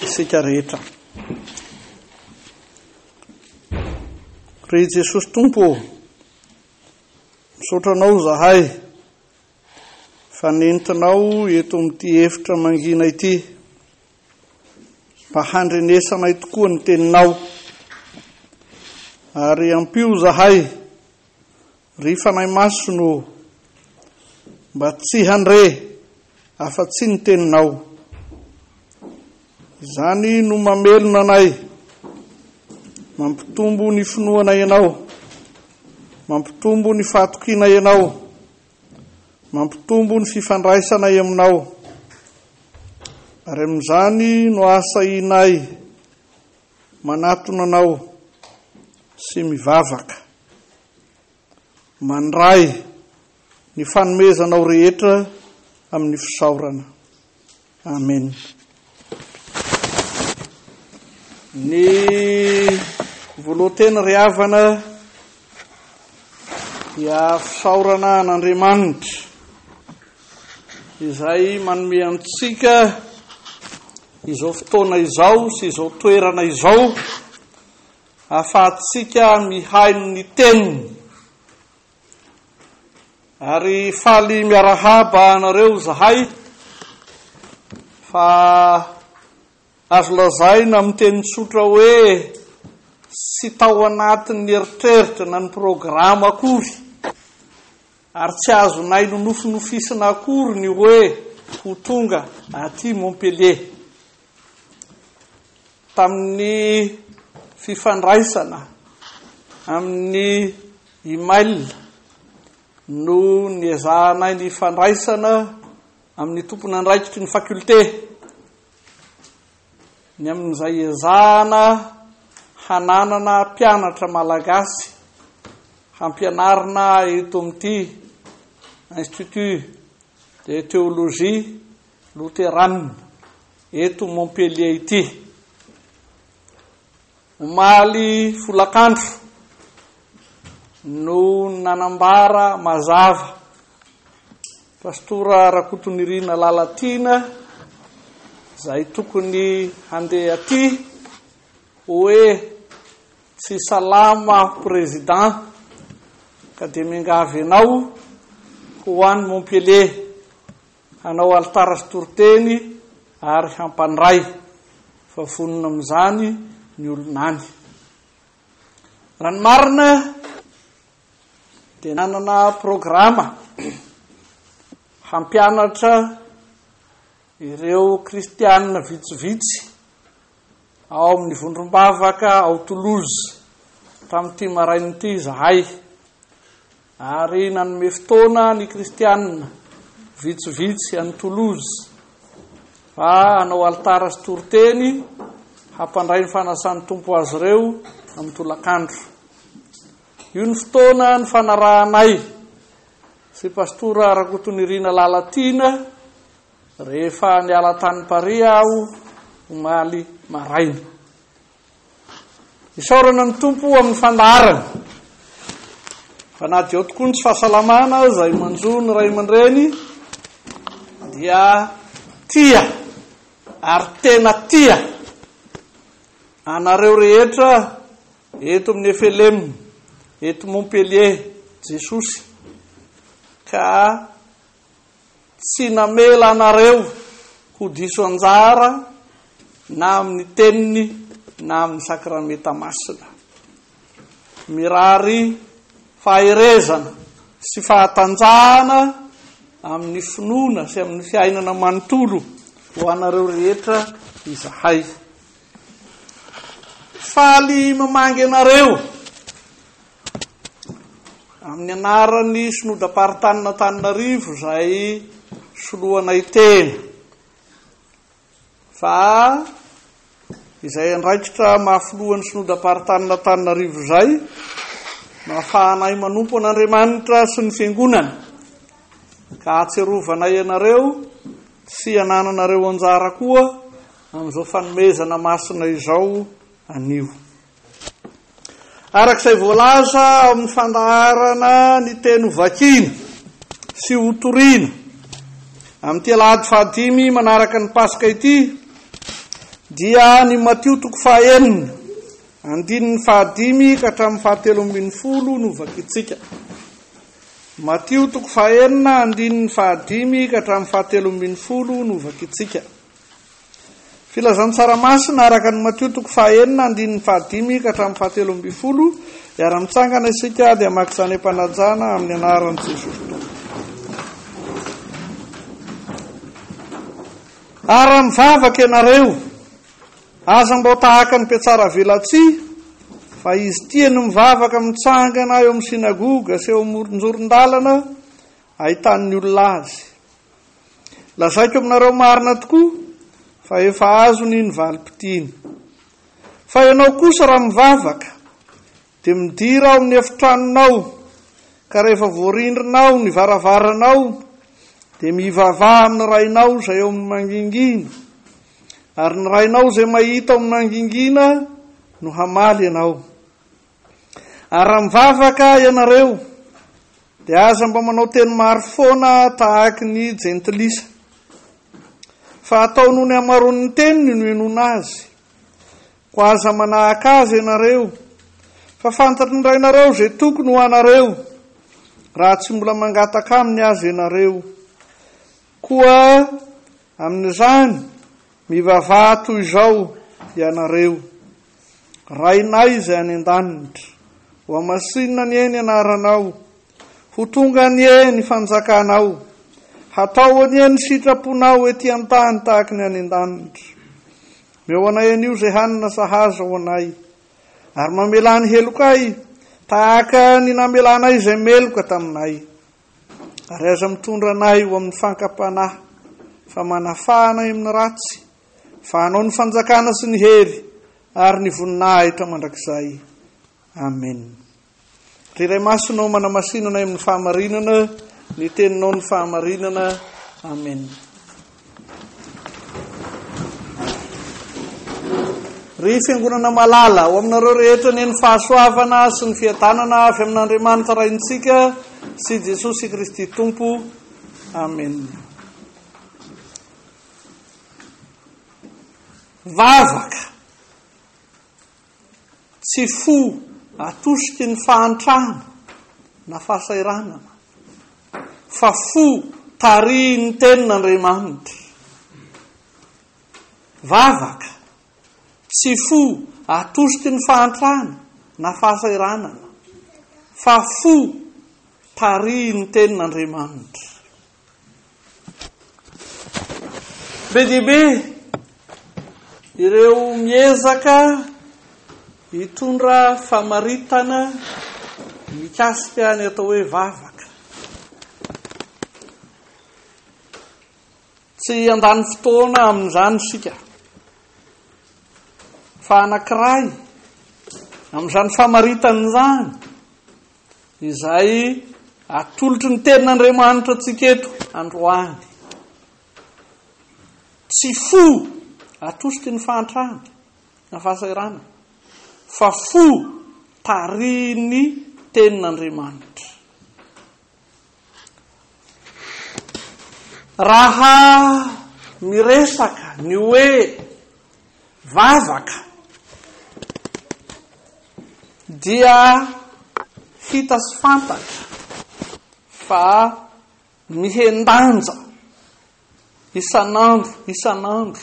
isika rehetra. Ry Jesosy Tompo ô, misaotra anao zahay fa nentinao eto amin'ity efitra mangina ity mba handrenesanay tokoa ny teninao ary ampio zahay Ry fanahy masina ô, mba tsy handre afa-tsy ny teninao. Izany no mamelona anay, mampitombo ny finoanay ianao, mampitombo ny fahatokianay ianao, mampitombo ny fifandraisanay aminao. Ary amin'izany no asahianay manatona anao sy mivavaka. Mandray ny fanomezanao rehetra amin'ny fisaorana. Amen. Ny volohanteny ry havana dia fisaorana an'Andriamanitra izay manome antsika izao fotoana izao sy izao toerana izao Ahafahantsika mihaino ny Teniny. Ary faly miarahaba anareo zahay fa azo lazaina amin'ny teny tsotra hoe tsy tao anatin'ny eritreritra na ny programa akory ary tsy azonay nonofinofisina akory ny hoe ho tonga aty Montpellier. tamin'ny fifandraisana amin'ny e-mail no niezahanay ny hifandraisana amin'ny tompon'andraikitry ny faculté ny amin'izay ezahana hananana mpianatra malagasy hampianarina eto amin'ity institut de théologie Loterana eto Montpellier ity. Omaly folakandro no nanambara mazava Pastora Rakotonirina Lalatiana izay tokony handeha aty hoe tsy salama président ka dia miangavy anao ho any Montpellier Hanao alitara sy toriteny ary hampandray, fa vonona amin'izany ny olona any. Raha ny marina dia nanana programa hampianatra ireo kristianina vitsivitsy ao amin'ny vondrom-bavaka ao Toulouse tamin'ity maraina ity izahay. Ary nanome fotoana ny Kristianina vitsivitsy any Toulouse mba hanao alitara sy toriteny hampandray ny fanasan'ny Tompo azy ireo amin'ny tolakandro. Io ny fotoana nifanarahanay sy Pastora Rakotonirina Lalatiana rehefa niala tany Paris aho omaly maraina. Isaorana ny Tompo amin'ny fandaharana. Fa na dia ao tokoa ny tsy fahasalamana izay manjo ny ray aman-dreny dia tia ary tena tia anareo rehetra eto amin'ny FLM, eto Montpellier, Jesosy. Ka tsy namela anareo ho diso anjara na amin'ny teniny na amin'ny sakramenta masina. Mirary faherezana sy fahatanjahana amin'ny finoana sy amin'ny fiainana manontolo ho anareo rehetra izahay. Faly mamangy anareo. Amin'ny anaran'ny Synodam-paritanin'Antananarivo izay soloanay tena, fa izay andraikitra maha filohan'ny Synodam-paritanin'Antananarivo izay no ahafahanay manompo an'Andriamanitra sy ny Fiangonany, ka ahatserovanay anareo sy anananareo anjara koa amin'izao fanomezana masina izao anio. Araka izay voalaza ao amin'ny fandaharana ny teny ho vakiana sy ho toriana amin'ity alahady fahadimy manaraka ny Paska ity dia ny Matio toko fahaenina andininy fahadimy ka hatramin'ny fahatelo ambin'ny folo no vakintsika. Matio toko fahaenina andininy fahadimy ka hatramin'ny fahatelo ambin'ny folo no vakintsika. Filazantsara masina araka an'i Matio toko fahaenina andininy fahadimy ka hatramin'ny fahatelo ambin'ny folo, Hiara mitsangana isika dia maka izany am-panajana amin'ny anaran'i Jesosy Tompo. Ara mivavaka ianareo, aza mbao tahaka ny mpiatsara velatsihy, fa izy tia ny mivavaka mitsangana eo amin'ny sinagoga sy eo amoron-joron-dalana, ahitan'ny olona azy. Lazaiko aminareo marina tokoa fa efa azony ny valim-pitiny. Fa ianao kosa raha mivavaka, dia midira ao amin'ny efitranonao, ka rehefa voarindrina ao ny varavaranao, dia mivavaha amin'ny Rainao izay ao amin'ny mangingina, ary ny Rainao izay mahita ao amin'ny mangingina no hamaly ianao. Ary raha mivavaka ianareo, dia aza mba manao teny maro foana tahaky ny jentilisa, fa atao noho ny hamaroan'ny teniny no hinoana azy. Koa aza manahaka azy ianareo, fa fantatry ny Rainareo izay tokony ho anareo, raha tsy mbola mangataka aminy aza ianareo. Koa amin'izany, mivavaha toy izao ianareo. Rainay izay any an-danitra, hohamasinina anie ny anaranao, ho tonga anie ny fanjakanao, hatao anie ny sitraponao ety an-tany tahaka ny any an-danitra. Meo anay anio izay hanina sahaza ho anay, ary mamelà ny helokay tahaka ny namelanay izay meloka taminay. Ary aza mitondra anay ho amin'ny fankam-panahy, fa manafà anay amin'ny ratsy. fa hanao ny fanjakana sy ny hery ary ny voninahitra mandrakizay. Amen. Ry Ray Masina, manamasinana amin'ny fahamarinana, ny teninao ny fahamarinana. Amen. Ry fiangonana malala, ao aminareo rehetra ny ny fahasoavana sy ny fiadanana avy amin'Andriamanitra Raintsika sy Jesosy Kristy Tompo. Amen. Vavaka, tsy fo atosiky ny fahantrana na fahasahiranana, fa fo tarihin'ny tenin'Andriamanitra. Vavaka, tsy fo atosiky ny fahantrana na fahasahiranana, fa fo tarihin'ny tenin'Andriamanitra. Be dia be ireo miezaka hitondra famaritana mikasika ny atao hoe vavaka. Tsy handany fotoana amin'izany isika. Fa anankiray amin'izany famaritana izany Izay atolotry ny tenin'Andriamanitra antsika eto androany. Tsy fo atosiky ny fahantrana na fahasahiranana, fa fo tarihin'ny tenin'Andriamanitra. Raha miresaka ny hoe vavaka dia hita sy fantatra fa mihen-danja isan'andro isan'andro.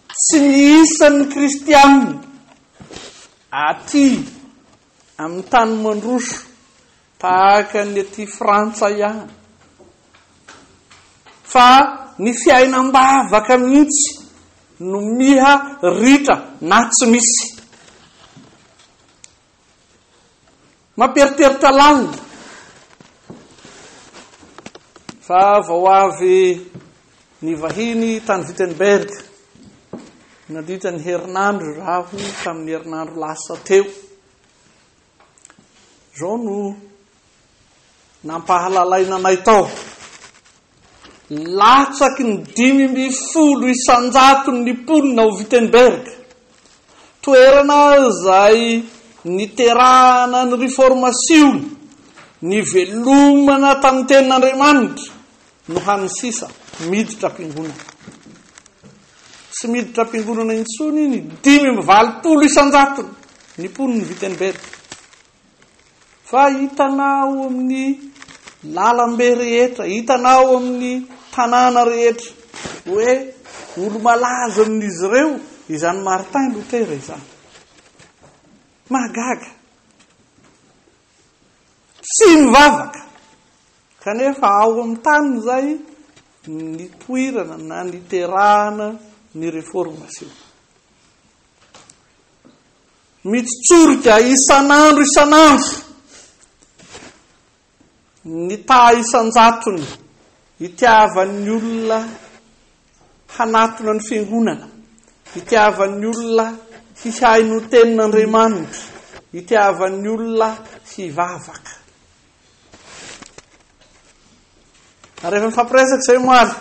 Tsy ny isan'ny kristiana aty. Amin'ny tany mandroso tahaka ny aty Frantsa ihany. Fa ny fiainam-bavaka mihitsy no miha ritra na tsy misy. Mampieritreritra lalina fa vao avy Ny vahiny tany Wittenberg, nandritra ny herinandro raho tamin'ny herinandro lasa teo. Izao no nampahalalaina anay tao. Latsaky ny dimy mby folo isanjaton ny mponina ao Wittenberg. Toerana izay niterahana ny reformasiona, nivelomana tamin'ny tenin'Andriamanitra, No hany sisa miditra am-piangonana. Tsy miditra am-piangonana intsony ny dimy amby valopolo isan-jatony ny mponin'i Wittenberg. Fa hitanao amin'ny lalambe rehetra, hitanao amin'ny tanàna rehetra hoe olo-malaza amin'izy ireo izany Martin Luther izany. Mahagaga. Tsy mivavaka! Kanefa ao amin'ny tany izay nipoirana na niterahana ny reformasiona. Mitsotsorika isan'andro isan'andro ny taha isan-jatony itiavan'ny olona hanatona ny Fiangonana, hitiavan'ny olona hihaino ny Tenin'Andriamanitra, hitiavan'ny olona hivavaka. Ary efa nifampiresaka izay omaly,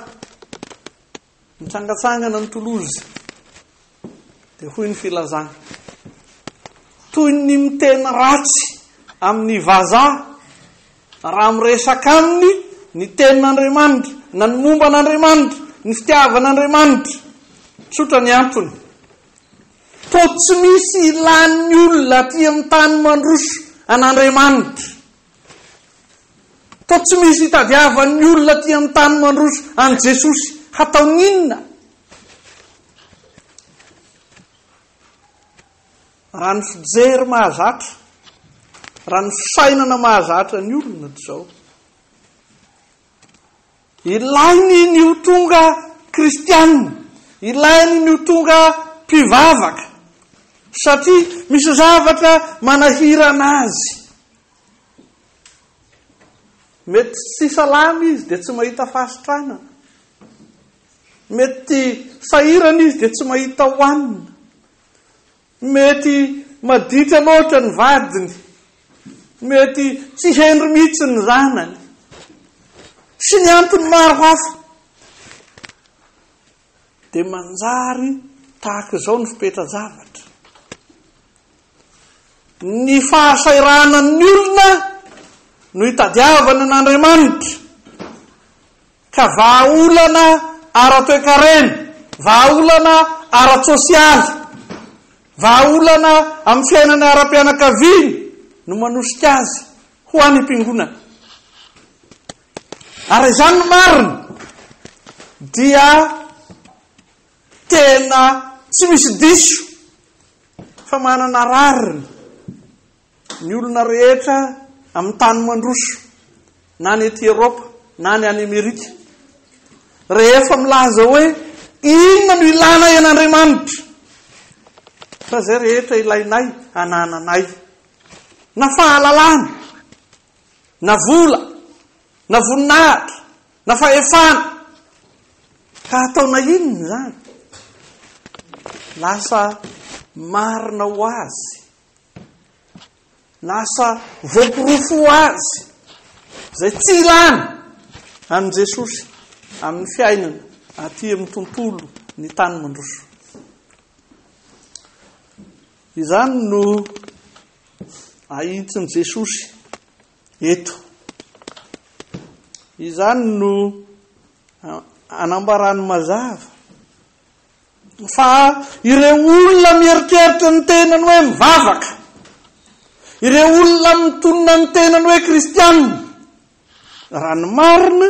nitsangatsangana ny Toulouse, Dia hoy ny filazany, toy ny miteny ratsy amin'ny vazaha raha miresaka aminy ny tenin'Andriamanitra na ny momba an'Andriamanitra, ny fitiavan'Andriamanitra. Tsotra ny antony. To tsy misy ilan'ny olona aty amin'ny tany mandroso an'Andriamanitra. To tsy misy itadiavan'ny olona aty amin'ny tany mandroso an'i Jesosy. Hataon'inona? Raha ny fijery mahazatra, raha ny fisainana mahazatra ny olona dia izao. Ilainy ny ho tonga kristianina, ilainy ny ho tonga mpivavaka, satria misy zavatra manahirana azy. Mety tsy salama izy dia tsy mahita fahasitranana. Mety sahirana izy dia tsy mahita hohanina. Mety maditra loatra ny vadiny. Mety tsy hendry mihitsy ny zanany. Sy ny antony maro hafa. Dia manjary tahaka izao ny fipetra-javatra. Ny fahasahiranan'ny olona no itadiavana an'Andriamanitra. ka vahaolana ara-toekarena, vahaolana ara-tsosialy, vahaolana amin'ny fiainana ara-pianakaviana no manosika azy ho any am-piangonana. Ary izany no marina dia tena tsy misy diso fa manana rariny Ny olona rehetra amin'ny tany mandroso, na any ety Eropa, na any any Amerika, rehefa milaza hoe inona no ilana an'Andriamanitra, fa izay rehetra ilainay anananay, na fahalalana, na vola, na voninahitra, na fahefana, ka hataona inona izany? Lasa marina ho azy Lasa voaporofo ho azy izay tsy ilana an'i Jesosy amin'ny fiainana aty amin'ny tontolo ny tany mandroso. Izany no ahitsin'i Jesosy eto. Izany no anambarany mazava Fa ireo olona mieritreritra ny tenany hoe mivavaka, ireo olona mitonona ny tenany hoe kristianina, raha ny marina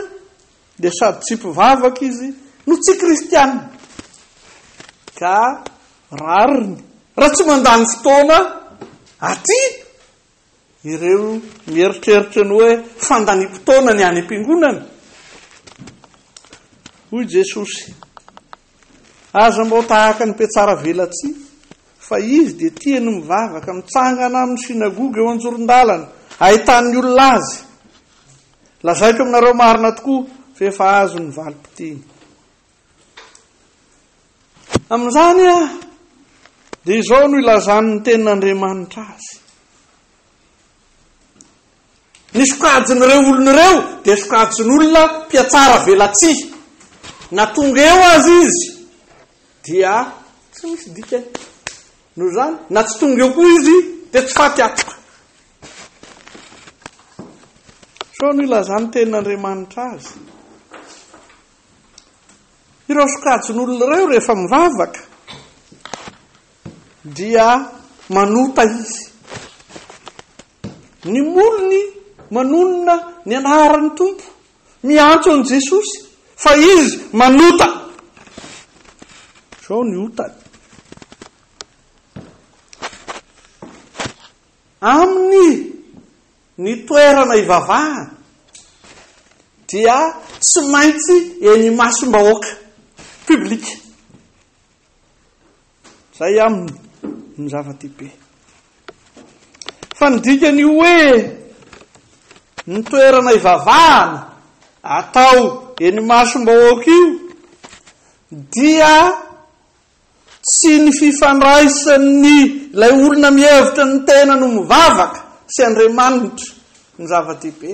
dia sady tsy mpivavaka izy no tsy kristianina. Ka rariny raha tsy mandany fotoana aty Ireo mieritreritra ny hoe fandaniam-potoana ny any am-piangonana. Hoy Jesosy, aza mba ho tahaka ny mpiatsara velatsihy, fa izy dia tia ny mivavaka, mitsangana amin'ny synagoga eo an-joron-dalana, ahitan'ny olona azy. Lazaiko aminareo marina tokoa, fa efa azony ny valim-piteny. Amin'izany dia izao no ilazan'ny tenin'Andriamanitra azy. Ny sokajin'ireo olona ireo dia sokajin'olona mpiatsara velatsihy. Na tonga eo aza izy dia tsy misy dikany. Noho izany, na tsy tonga eo koa izy dia tsy faty atoka. Sao no ilazan'ny tenin'Andriamanitra azy. Ireo sokajin'olona ireo rehefa mivavaka dia manota izy. Ny molony manonona ny anaran'ny Tompo, miantso an'i Jesosy fa izy manota. Izao ny otany. Aminy Ny toerana hivavahana dia tsy maintsy eny imasom-bahoaka, public. Izay aminy no zava-dehibe. Fa ny dikan'io hoe ny toerana hivavahana atao eny imasom-bahoaka io dia Tsy ny fifandraisan'ny ilay olona mihevitra ny tenany ho mivavaka sy Andriamanitra no zava-dehibe,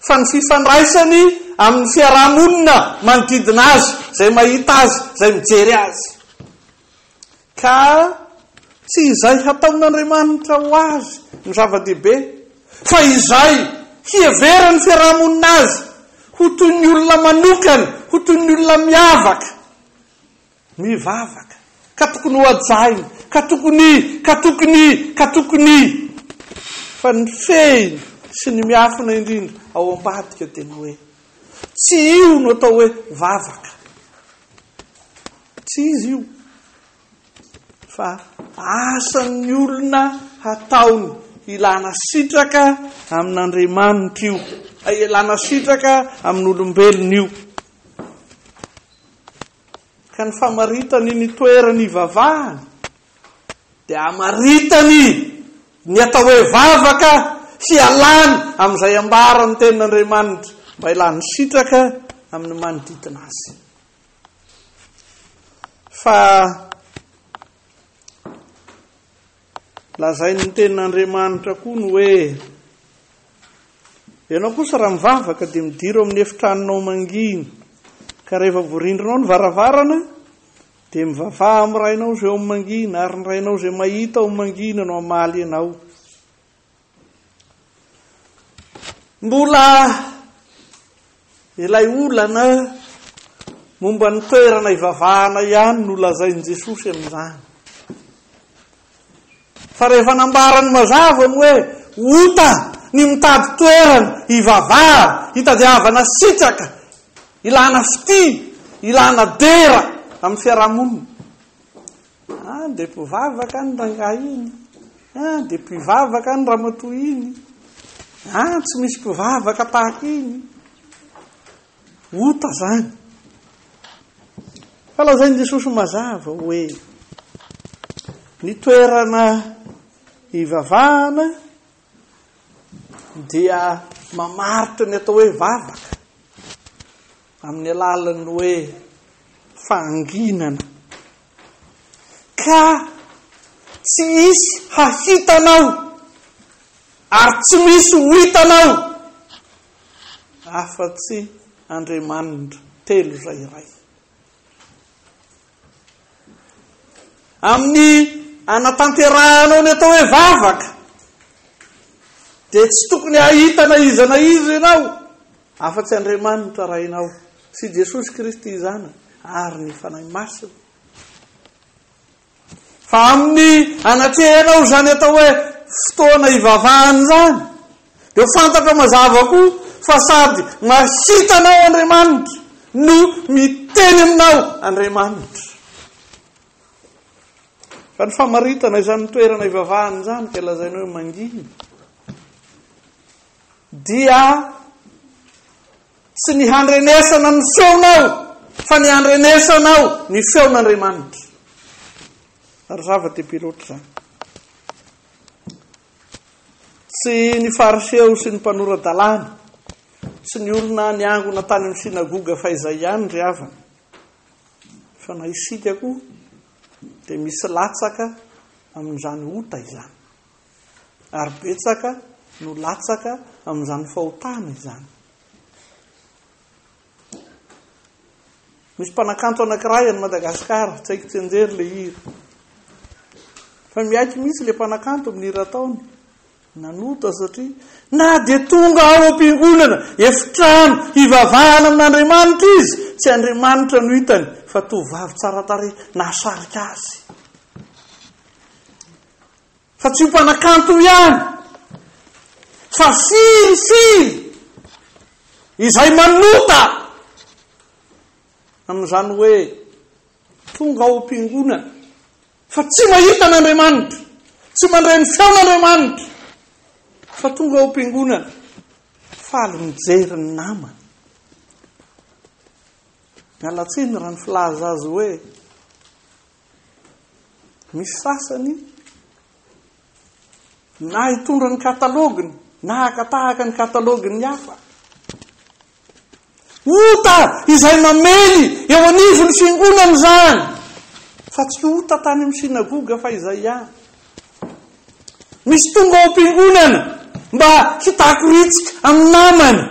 fa ny fifandraisany amin'ny fiaraha-monina manodidina azy, izay mahita azy, izay mijery azy. Ka tsy izay hataon'Andriamanitra ho azy no zava-dehibe, fa izay hiheveran'ny fiaraha-monina azy ho toy ny olona manokana, ho toy ny olona miavaka, Ny vavaka, ka tokony hohajaina, ka tokony, ka tokony, ka tokony, fa ny fehiny sy ny miafina indrindra ao ambadika dia ny hoe, tsy io no atao hoe vavaka. Tsy izy io, fa asan'ny olona hataony ilana sitraka amin'Andriamanitra io, ilana sitraka amin'olombelona io. Ka ny famaritany ny toerany ivavahany dia amaritany ny atao hoe vavaka hialany amin'izay ambaran'ny tenin'Andriamanitra mba hilany sitraka amin'ny manodidina azy. Fa Lazain'ny Tenin'Andriamanitra koa ny hoe, Ianao kosa raha mivavaka dia midiro amin'ny efitranonao mangina, ka rehefa voarindrinao ny varavarana, dia mivavaha amin'ny Rainao izay ao amin'ny mangina, ary ny Rainao izay mahita ao amin'ny mangina no hamaly ianao. Mbola ilay olana momba ny toerana ivavahana ihany no lazain'i Jesosy amin'izany. Fa rehefa nambarany mazava ny hoe ota ny mitady toerana ivavahana, hitadiavana sitraka, ilana fitia, ilana dera amin'ny fiarahamonina. Ah dia mpivavaka any rangahy iny. Ah dia mpivavaka any ramatoa iny. Ah tsy misy mpivavaka tahaka iny. Ota zany. Fa lazain'i Jesosy mazava hoe ny toerana ivavahana dia mamaritra ny atao hoe vavaka. Amin'ny alalan'ny hoe fahanginana. Ka tsy hisy hahitanao ary tsy misy ho hitanao afa-tsy Andriamanitra telo izay iray. Amin'ny anatanterahanao ny atao hoe vavaka dia tsy tokony hahita na iza na iza ianao Afa-tsy Andriamanitra Rainao sy Jesosy Kristy Zanany ary ny Fanahy Masina. Fa amin'ny anatrehanao izany atao hoe fotoana ivavahana izany, dia ho fantatrao mazava koa fa sady mahita anao Andriamanitra no miteny aminao Andriamanitra. Fa ny famaritana izany toerana ivavahana izany dia lazainao hoe mangina. dia tsy ny handrenesana ny feonao fa ny handrenesanao ny feon'Andriamanitra. Ary zava-dehibe loatra izany. Tsy ny fariseo sy ny mpanora-dalàna sy ny olona niangona tany amin'ny sinagoga fa izay ihany ry havana. Fa na isika koa dia misy latsaka amin'izany ota izany. Ary betsaka no latsaka amin'izany fahotana izany. Misy mpanakanto anankiray any Madagasikara, tsy haiko tsenjery le hira. Fa miaiky mihitsy le mpanakanto amin'ny hira ataony. Nanota satria na dia tonga ao am-piangonana, efitrano, hivavahana amin'Andriamanitra izy, tsy Andriamanitra no hitany, fa tovovavy tsara tarehy nahasarika azy. Fa tsy ho mpanakanto ihany, fa firy firy izay manota amin'izany hoe tonga ao am-piangonana fa tsy mahita an'Andriamanitra, tsy mandray ny feon'Andriamanitra, fa tonga ao am-piangonana faly mijery ny namany. Mialatsiny raha ny filaza azy hoe Ny sasany na hitondra ny kataloginy na hakatahaka ny katalogin'ny hafa. Ota izay mamely eo anivon'ny fiangonana izany. Fa tsy ota tany amin'ny sinagoga fa izay ihany. Misy tonga ao am-piangonana mba hitakoritsika amin'ny namany.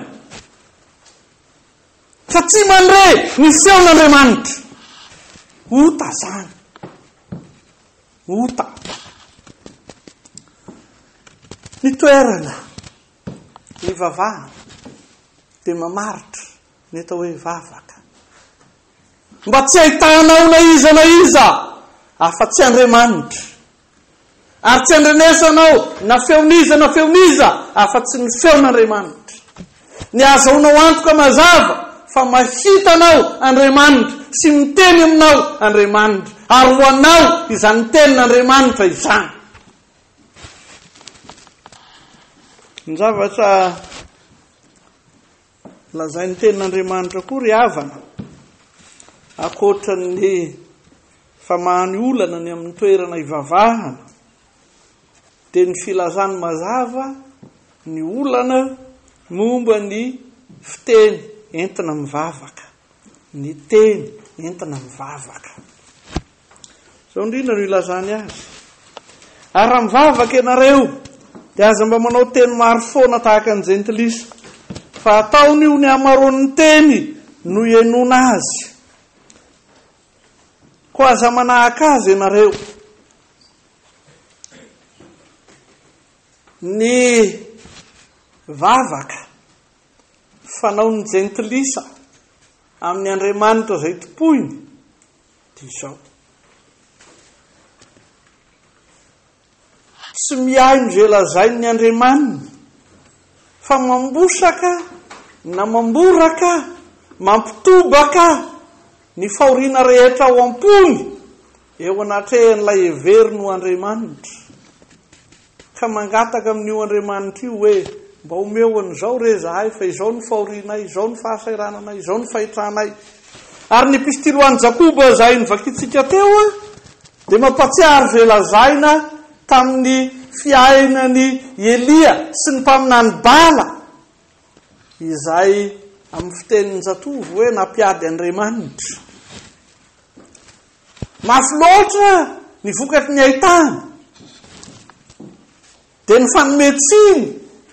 Fa tsy mandre ny feon'Andriamanitra. Ota zany. Ota. Ny toerana ivavahana dia mamaritra ny atao hoe vavaka. Mba tsy ahitana na iza na iza afa-tsy Andriamanitra. Ary tsy andrenesanao na feon'iza na feon'iza afa-tsy ny feon'Andriamanitra. Ny ahazoanao antoka mazava fa mahita anao Andriamanitra sy miteny aminao Andriamanitra, ary ho anao izany tenin'Andriamanitra izany. Ny zavatra Lazain'ny Tenin'Andriamanitra koa ry havana, ankoatra ny famahany olana ny amin'ny toerana ivavahana, dia ny filazany mazava ny olana momba ny fiteny entina mivavaka, ny teny entina mivavaka. Izao indrindra no ilazany azy, Ary raha mivavaka ianareo, dia aza mba manao teny maro foana tahaka ny Jentilisa, fa ataony ho ny hamaroan'ny teny no hihenoana azy. Koa aza manahaka azy ianareo. Ny vavaka fanaon'ny Jentilisa amin'ny Andriamanitra izay tompoiny Dijon. Tsy mihaino izay lazain'ny andriamaniny fa mambosaka na mamboraka, mampitobaka ny fahoriana rehetra ao am-pony eo anatrehan'ilay heveriny ho andriamanitra. Ka mangataka amin'io Andriamanitra io hoe, Mba omeo an'izao re izahay, fa izao no fahorianay, izao no fahasahirananay, izao no fahitranay. Ary ny epistily ho an'i Jakoba izay novakintsika teo dia mampahatsiahy izay lazaina tamin'ny fiainan'i Elia sy ny mpaminany Bala izay amin'ny fitenin'ny zatovo hoe nampiady Andriamanitra. Mafy loatra ny vokatry ny haitany, dia ny fanome tsiny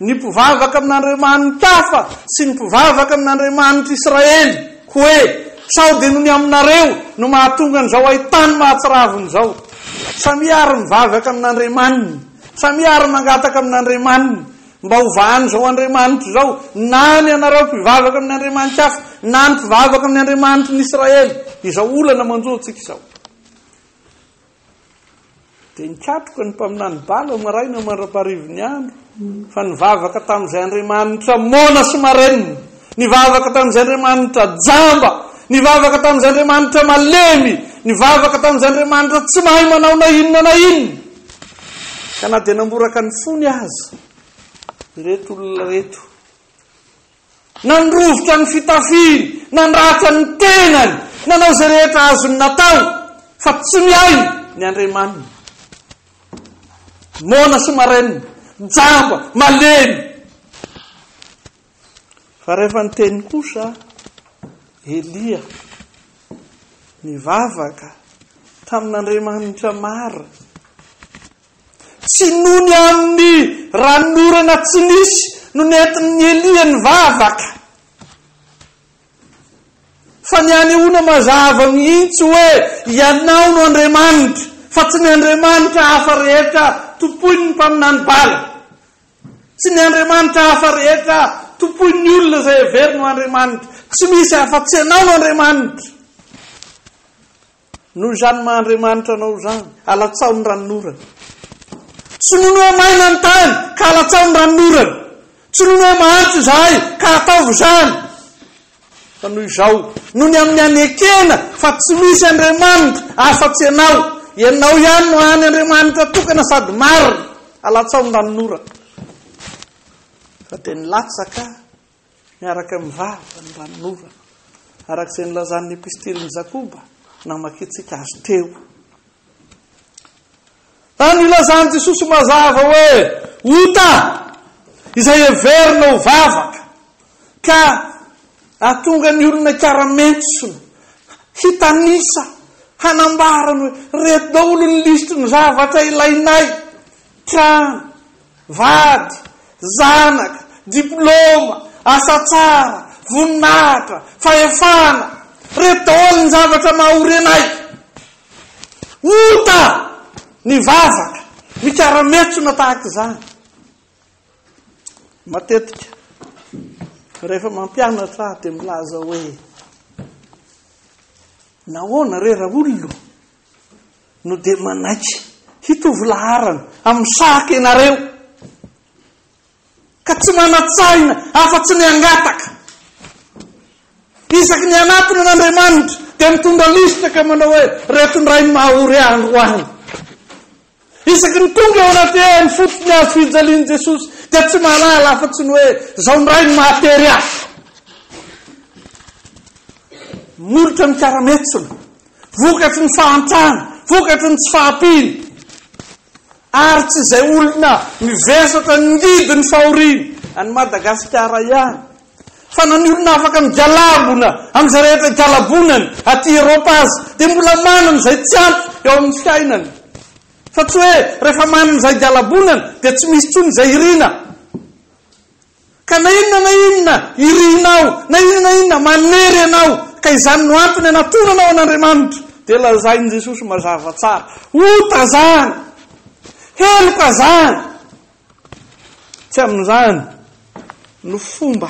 ny mpivavaka amin'Andriamanitafa sy ny mpivavaka amin'Andriamanitr'Israely, hoe, Sao dia noho ny aminareo no mahatonga an'izao haitany mahatsiravina izao? Samia àry mivavaka amin'Andriamaniny, samia àry mangataka amin'Andriamaniny, Mba ho vahan'izao andriamanitra izao, na ny anareo mpivavaka amin'ny andriamanitra hafa, na ny mpivavaka amin'ny andriamanitry ny Israely, izao olana manjo antsika izao. Dia nikatroka ny mpaminany Bala maraina mandra-paharivin'ny andro, fa nivavaka tamin'izay andriamanitra mona sy marenina, nivavaka tamin'izay andriamanitra jamba, nivavaka tamin'izay andriamanitra malemy, nivavaka tamin'izay andriamanitra tsy mahay manao na inona na inona. Ka na dia namboraka ny fony aza ireto olona ireto, nandrovitra ny fitafiny, nandratra ny tenany, nanao izay rehetra azony natao, fa tsy mihaino ny andriamaniny. Moana sy marenina, jamba, malemy. Fa rehefa niteny kosa Elia, nivavaka tamin'Andriamanitra marina, tsy nony amin'ny ranon'orana tsy nisy no nentin'i Elia nivavaka, fa ny anehoana mazava mihitsy hoe ianao no Andriamanitra, fa tsy ny andriamanitra hafa rehetra tompoin'ny mpaminany Bala. Tsy ny andriamanitra hafa rehetra tompoin'ny olona izay heveriny ho andriamanitra. Tsy misy afa-tsy anao no andriamanitra. Noho izany maha andriamanitra anao izany, alatsaho ny ranonorana. Tsy noho ny hoe maina ny tany ka alatsaho ny ranonorana. Tsy noho ny hoe mahantra izahay ka ataovy izany. Fa noho izao, noho ny amin'ny hanekena fa tsy misy Andriamanitra afa-tsy ianao, ianao ihany no hany Andriamanitra tokana sady marina, alatsao ny ranon'ora. Fa dia nilatsaka miaraka amin'ny vava ny ranon'ora, araka izay nilazan'ny epistilin'i Jakoba namakiantsika azy teo. Raha nilazan'i Jesosy mazava hoe ota izay heverina ho vavaka ka hahatonga ny olona hikaramentsona, hitanisa, hanambarany hoe reto daholo ny lisitry ny zavatra ilainay, trano, vady, zanaka, diploma, asa tsara, voninahitra, fahefana, reto daholo ny zavatra maha ory anay. Ota! Mivavaka, mikara-metsona tahaka izany. Matetika, rehefa mampianatra ahy dia milaza hoe, nahoana re raha olona no dia manaiky hitovy laharana amin'ny sahaka ianareo? ka tsy manan-tsahina afa-tsy ny hangataka. Isaky ny hanatona an'Andriamanitra, dia mitondra lisitra ka manao hoe, Reto indray ny maha-ory ahy androany. Isaky ny tonga eo anaty hehy ny fototry ny hazo fijalian'i Jesosy, dia tsy mahalala afa-tsy ny hoe, Izao indray ny mahatery ahy. Molotra ny karametsony, vokatry ny fahantrana, vokatry ny tsy fahampiana. Ary tsy izay olona mivesatra handidy ny fahoriana any Madagasikara ihany, fa na ny olona afaka migalabona amin'izay rehetra igalabonany aty Eropa aza, dia mbola manana izay tsy ampy eo amin'ny fiainany. Fa tsy hoe rehefa manana izay igalabonany, dia tsy misy intsony izay iriana. Ka na inona na inona irianao, na inona na inona manery anao, ka izany no antony anatonanao an'Andriamanitra, dia lazain'i Jesosy mazava tsara, Ota zany! Heloka zany! Tsy amin'izany no fomba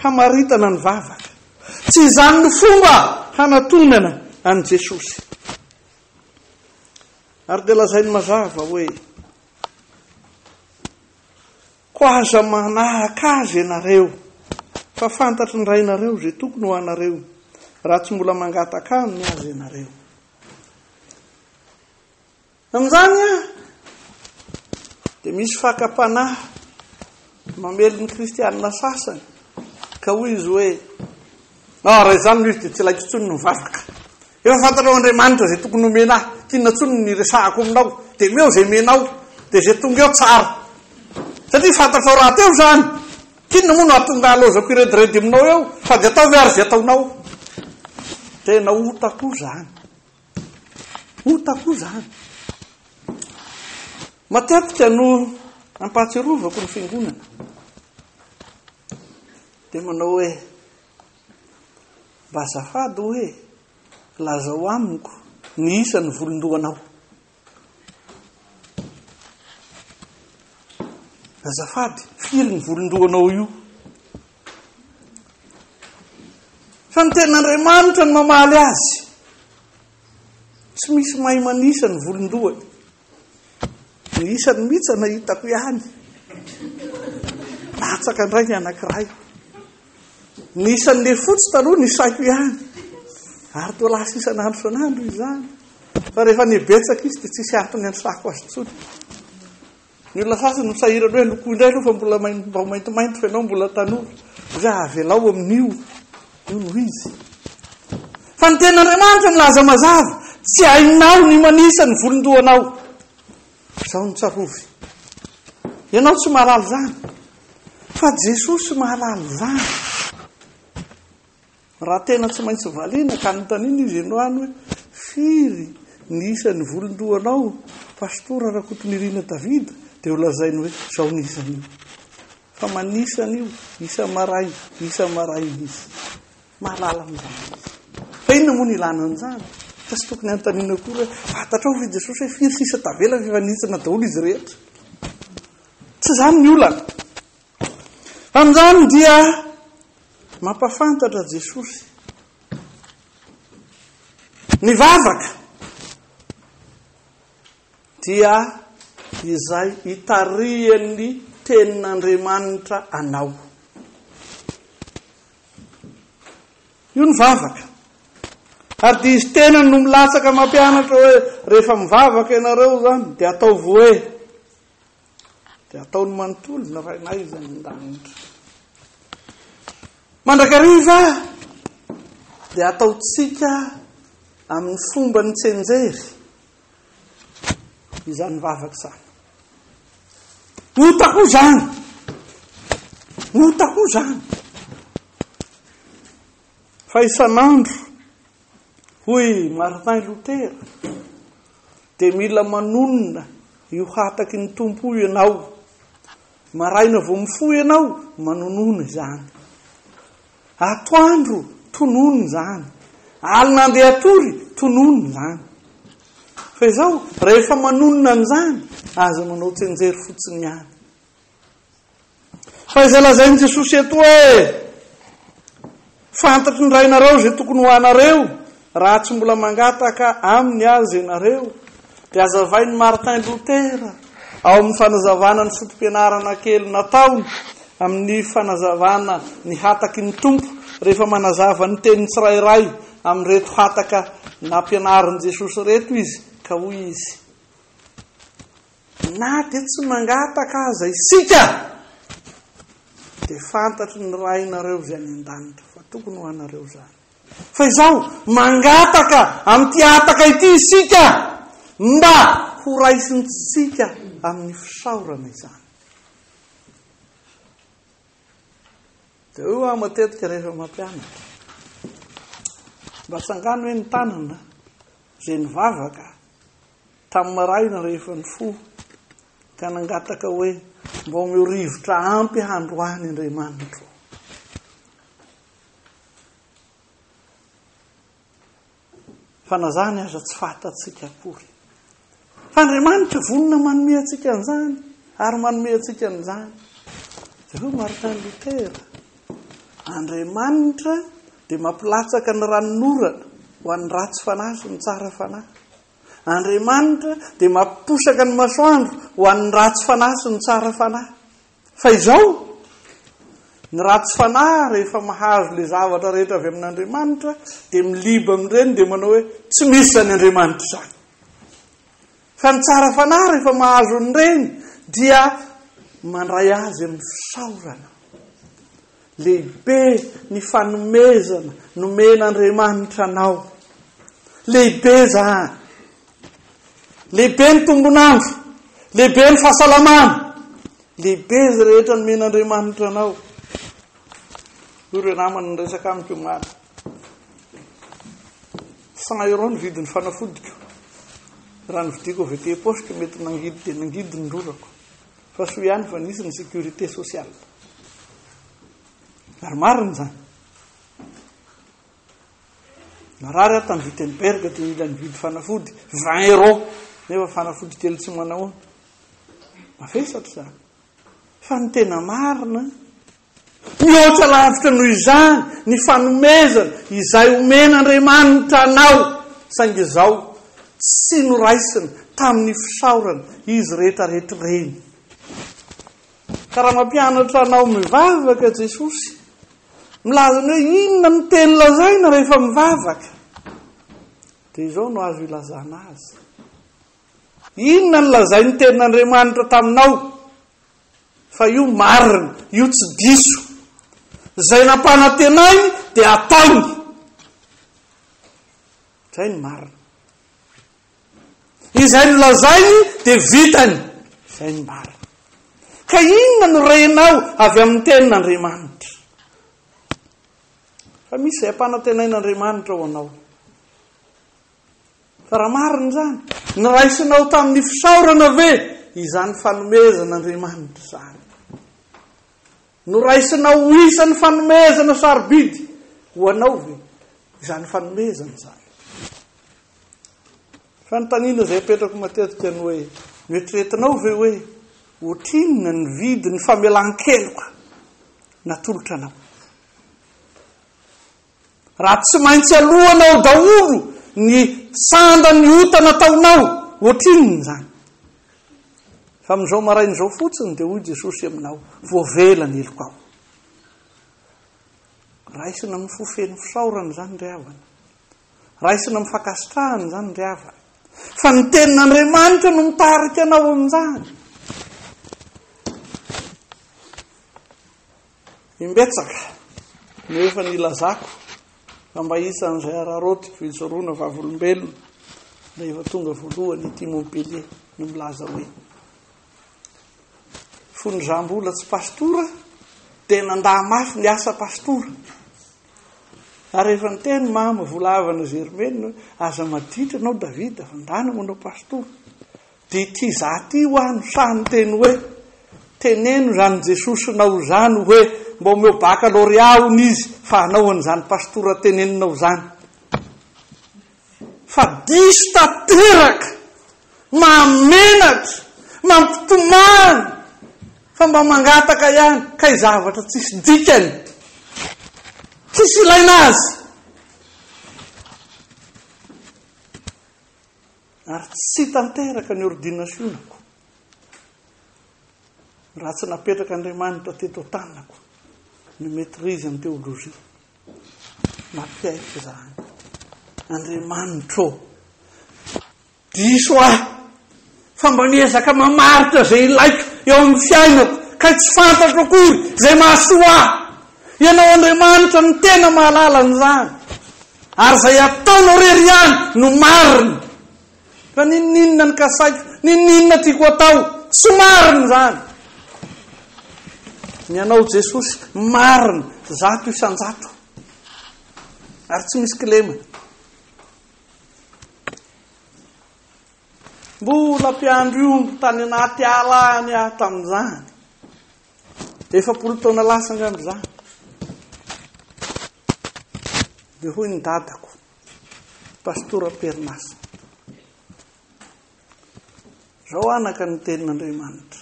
hamaritana ny vavaka. Tsy izany no fomba hanatonana an'i Jesosy. Ary dia lazainy mazava hoe, Koa aza manahaka azy ianareo, fa fantatry ny Rainareo izay tokony ho anareo, raha tsy mbola mangataka Aminy aza ianareo. Amin'izany dia misy fakam-panahy mamely ny Kristianina sasany, ka hoy izy hoe, Ah, raha izany no izy dia tsy ilaiko intsony ny mivavaka. Efa fantanao Andriamanitra izay tokony homena ahy, tsy inona intsony ny resahako aminao, dia omeo izay menao, dia izay tonga eo tsara. Satria fantatrao rahateo izany. Tsy inona moa no hahatonga halaozako hirediredy aminao eo, sady ataovy ary izay ataonao. Tena ota koa izany. Ota koa izany. Matetika no ampahatsiarovako ny fiangonana. Dia manao hoe, Mba azafady hoe, lazao amiko ny isan'ny volon-dohanao. Azafady, firy ny volon-dohanao io? Fa ny ten'Andriamanitra no mamaly azy. Tsy misy mahay manisa ny volon-dohany. Ny isany mihitsy no hitako ihany. Latsaka indray ny anankiray. Ny isan'ny lefotsy taloha ny saiko ihany. Ary toa lasa isan'andro isan'andro izany. Fa rehefa ny betsaka izy dia tsisy antony ansako azy tsony. Ny olona sasany misahirana hoe loko indray aloha fa mbola maintimainty fa ianao mbola tanora. Izay avelao amin'io. Hoy izy, Fa ny Tenin'Andriamanitra milaza mazava, Tsy hainao ny manisa ny volon-dohanao. Izao no tsarovy, ianao tsy mahalala izany, fa Jesosy mahalala izany. Raha tena tsy maintsy valiana ka anontaniana izy ianao any hoe, Firy ny isan'ny volon-dohanao, Pastora Rakotonirina David? dia holazainy hoe, Izao ny isan'io. Fa manisa an'io isa maraina, isa maraina izy. Mahalala an'izany izy. Fa inona moa ny ilana an'izany? Fa tsy tokony hanontaniana koa hoe fantatrao ve Jesosy hoe firy sisa tavela fa efa nitsina daholo izy rehetra? Tsy izany ny olana. Amin'izany dia mampafantatra Jesosy ny vavaka. Dia izay itarihan'ny Tenin'Andriamanitra anao. Io ny vavaka. Ary dia izy tenany no milatsaka mampianatra hoe rehefa mivavaka ianareo izany dia ataovy hoe dia ataony manontolo ny rainay izay an-danitra. Mandrakariva dia ataontsika amin'ny fomba ny tsenjery. izany vavaka izany. Ota koa izany. Ota koa izany. Fa isan'andro, hoy Martin Luther, dia mila manonona io hataky ny tompo io ianao. Maraina vao mifoha ianao, manonona izany. Atoandro, tonony izany. Alina andeha hatory, tonony izany. Fa izao, rehefa manonona an'izany, aza manao tsenjery fotsiny ihany. Fa izay lazain'i Jesosy eto hoe, Fantatry ny Rainareo izay tokony ho anareo, Raha tsy mbola mangataka Aminy aza ianareo, dia azavain'i Martin Luther ao amin'ny fanazavana ny foto-pianarana kely nataony amin'ny fanazavana ny hataky ny Tompo rehefa manazava ny teniny tsirairay amin'ireto hataka nampianarin'i Jesosy ireto izy, ka hoy izy, Na dia tsy mangataka aza isika, dia fantatry ny Rainareo izay any an-danitra fa tokony ho anareo izany. Fa izao, mangataka amin'ity hataka ity isika mba horaisintsika amin'ny fisaorana izany. Dia io aho matetika rehefa mampianatra. Mba tsangano hoe ny tanana izay nivavaka tamin'ny marahina rehefa ny fo ka nangataka hoe mba omeo rivotra ampy handroany Andriamanitro. Fa na zany aza tsy fatantsika akory. Fa Andriamanitra vonona manome antsika an'izany ary manome antsika an'izany. Jereo Martin Luther. Andriamanitra dia mampilatsaka ny ranonorana ho an'ny ratsy fanahy sy ny tsara fanahy. Andriamanitra dia mampiposaka ny masoandro ho an'ny ratsy fanahy sy ny tsara fanahy. Fa izao, ny ratsy fanahy rehefa mahazo ilay zavatra rehetra avy amin'Andriamanitra, dia miliba amin'ireny dia manao hoe, tsy misy izany Andriamanitra izany. Fa ny tsara fanahy rehefa mahazo an'ireny, dia mandray azy amin'ny fisaorana. Lehibe ny fanomezana nomen'Andriamanitra anao. Lehibe izany. Lehibe ny tombon'andro, lehibe ny fahasalamana, lehibe izay rehetra nomen'Andriamanitra anao. Hoy ireo namana niresaka amiko omaly. Cent euro ny vidin'ny fanafodiko. Raha novidiako avy aty poste mety nangidy dia nangidy ny rorako. Fa soa ihany fa nisy ny sécurité sociale. Ary marina izany. Narary aho tany Wittenberg dia nila nividy fanafody vingt euros nefa fanafody kely tsy manahoana. Mavesatra izany. Fa ny tena marina mihoatra lavitra noho izany ny fanomezana izay omen'Andriamanitra anao saingy izao tsy noraisina tamin'ny fisaorana izy rehetra rehetra ireny. Ka raha mampianatra anao mivavaka Jesosy, milaza ny hoe inona no teny lazaina rehefa mivavaka, dia izao no azo ilazana azy. Inona no lazain'ny tenin'Andriamanitra taminao? Fa io marina, io tsy diso. Izay nampanantenainy dia ataony. Izay ny marina. Izay nolazainy dia vitany izay ny marina. Ka inona no renao avy amin'ny tenin'Andriamanitra? Fa misy izay ampanantenain'Andriamanitra ho anao. Fa raha marina izany, niraisinao tamin'ny fisaorana ve izany fanomezan'Andriamanitra izany? Noraisina ho isan'ny fanomezana sarobidy ho anao ve izany fanomezana izany? Fanontaniana izay apetrako matetika ny hoe, Noeritreretinao ve hoe ohatrinona ny vidin'ny famelan-keloka natolotra anao? Raha tsy maintsy aloana ao daholo ny sanda ny ota nataonao, ohatrinona izany? Fa amin'izao maraina izao fotsiny dia hoy Jesosy aminao, voavela ny helokao. Raisina amin'ny fo feno fisaorana izany ry havana. Raisina amin'ny fankasitrahana izany ry havana. Fa ny tenin'Andriamanitra no mitarika anao amin'izany. Imbetsaka no efa nilazako fa mba isan'izay araraotiko hijoroana vavolombelona rehefa tonga voalohany ity Montpellier no milaza hoe fony za mbola tsy pastora dia nandà mafy ny asa pastora ary efa niteny mama volavana Germaine aza maditra anao David fa ndana manao pastora Dia ty za ty hoa no sahy niteny hoe, teneno izany Jesosy nao izany hoe mba omeo bakalôrea hono izy fa anao an'izany pastora teneninao izany. Fa diso tanteraka, mahamenatra, mampitomany fa mba mangataka ihany kay zavatra tsisy dikany, tsisy ilaina azy. Ary tsy tanteraka ny ordinasionako raha tsy napetraka Andriamanitra teto an-tanako ny maîtrise en théologie. Mapiaiky izany. Andriamanitro, diso ahy fa mba miezaka mamaritra izay ilaiko eo amin'ny fiainako kay tsy fantatro akory izay mahasoa ahy. Ianao Andriamanitra no tena mahalala an'izany. Ary izay ataonao irery ihany no marina. Ka ninoninona ny kasaiko? Ninoninona tiako atao? Tsy marina izany. Ny anao Jesosy marina zato isan-jato. Ary tsy misy kilemana. Mbola mpiandry omby tany anaty ala any aho tamin'izany. Efapolo taona lasa angamba za. Dia hoy ny dadako, pastora Perinasa. Zao anaka ny tenin'Andriamanitra.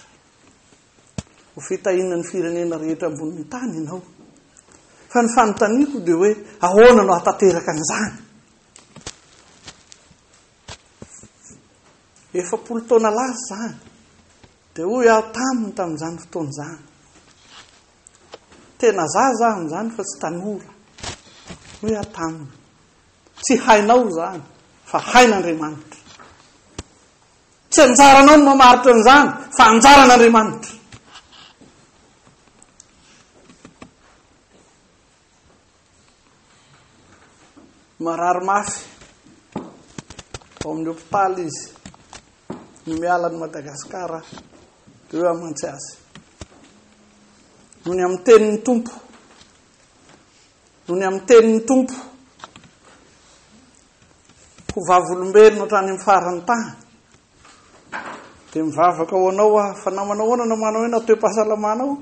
Ho fitahina ny firenena rehetra ambonin'ny tany ianao. Fa ny fanontaniako dia hoe ahoana no hatanteraka an'izany? Efapolo taona lasa zany. Dia hoy aho taminy tamin'izany fotoana izany, tena zaza aho amin'izany fa tsy tanora, hoy aho taminy, tsy hainao izany fa hain'Andriamanitra. Tsy anjaranao ny mamaritra an'izany fa anjaran'Andriamanitra. Marary mafy. Ao amin'ny hôpitaly izy. Ny miala an'i Madagasikara dia hoe hamantsy azy. Nony amin'ny tenin'ny tompo. Nony amin'ny tenin'ny tompo. Ho vavolombelona hatrany amin'ny faran'ny tany. Dia mivavaka ho anao aho fa na manao ahoana na manao ahoana toe-pahasalamanao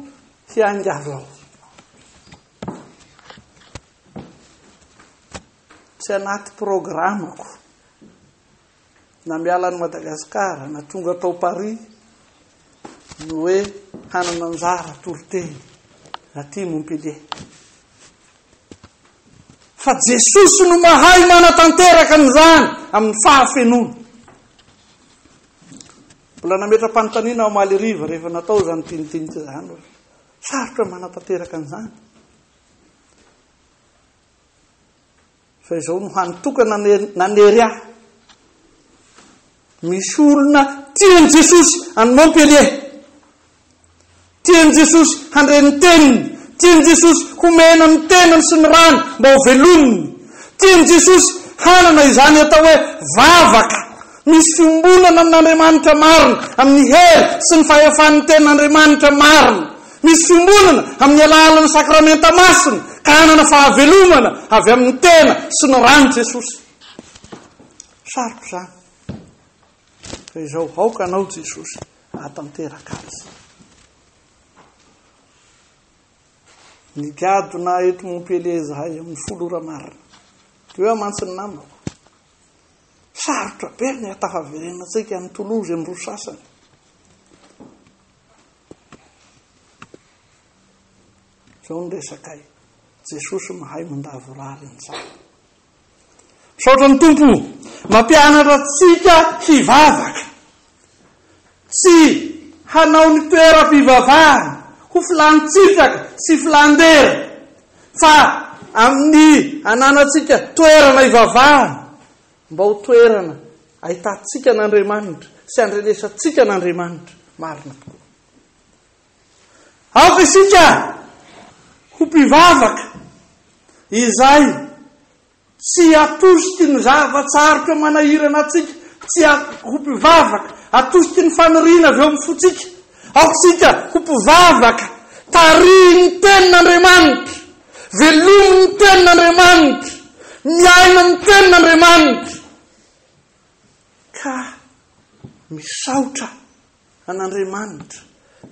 hiangavinao. Tsy anaty programako. Na miala an'i Madagasikara, na tonga tao Paris, ny hoe hanana anjara toriteny aty Montpellier. fa Jesosy no mahay manatanteraka an'izany amin'ny fahafenoana. Mbola nametra-panontaniana ao omaly hariva rehefa natao izany tinitinika izany hoe sarotra ny manatanteraka an'izany. Fa izao no hany tokana nanery ahy. Misy olona tian'i Jesosy any Montpellier. Tian'i Jesosy handre ny teniny. Tian'i Jesosy homena ny tenany sy ny rany mba ho velominy. Tian'i Jesosy hanana izany atao hoe vavaka misy fiombonana amin'Andriamanitra marina, amin'ny hery sy ny fahefan'ny Tenin'Andriamanitra marina. Misy fiombonana amin'ny alalan'ny sakramenta masina ka hanana fahavelomana avy amin'ny tena sy ny ran'i Jesosy. Saroko izany. Fa izao, aoka anao Jesosy ahatanteraka azy. Nigadona eto Montpellier izahay amin'ny folo ora marina. Teo aho mantsy ny namako. Sarotra be ny hatafaverena antsika amin'ny Toulouse amin'ny roa sasany. Izao ny resakay. Jesosy mahay mandavorary an'izany. Misaotra ny Tompo mampianatra antsika hivavaka, tsy hanao ny toeram-pivavahana ho filan-tsitraka sy filan-dera, fa amin'ny ananantsika toerana hivavahana, mba ho toerana ahitantsika an'Andriamanitra sy andrenesantsika an'Andriamanitra marina tokoa. Aoka isika ho mpivavaka izay tsy atosiky ny zava-tsarotra manahirana antsika, tsy ho mpivavaka atosiky ny faniriana avy eo amin'ny fontsika. Aoka isika ho mpivavaka tarihin'ny tenin'Andriamanitra, velomin'ny tenin'Andriamanitra, miaina ny tenin'Andriamanitra, ka misaotra an'Andriamanitra.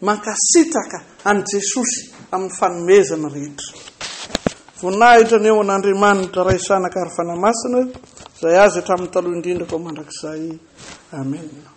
Mankasitraka an'i Jesosy amin'ny fanomezana rehetra. Voninahitra ny eo an'Andriamanitra Ray Zanaka ary Fanahy Masina izay azy hatramin'ny taloha indrindra koa mandrakizay. Amena.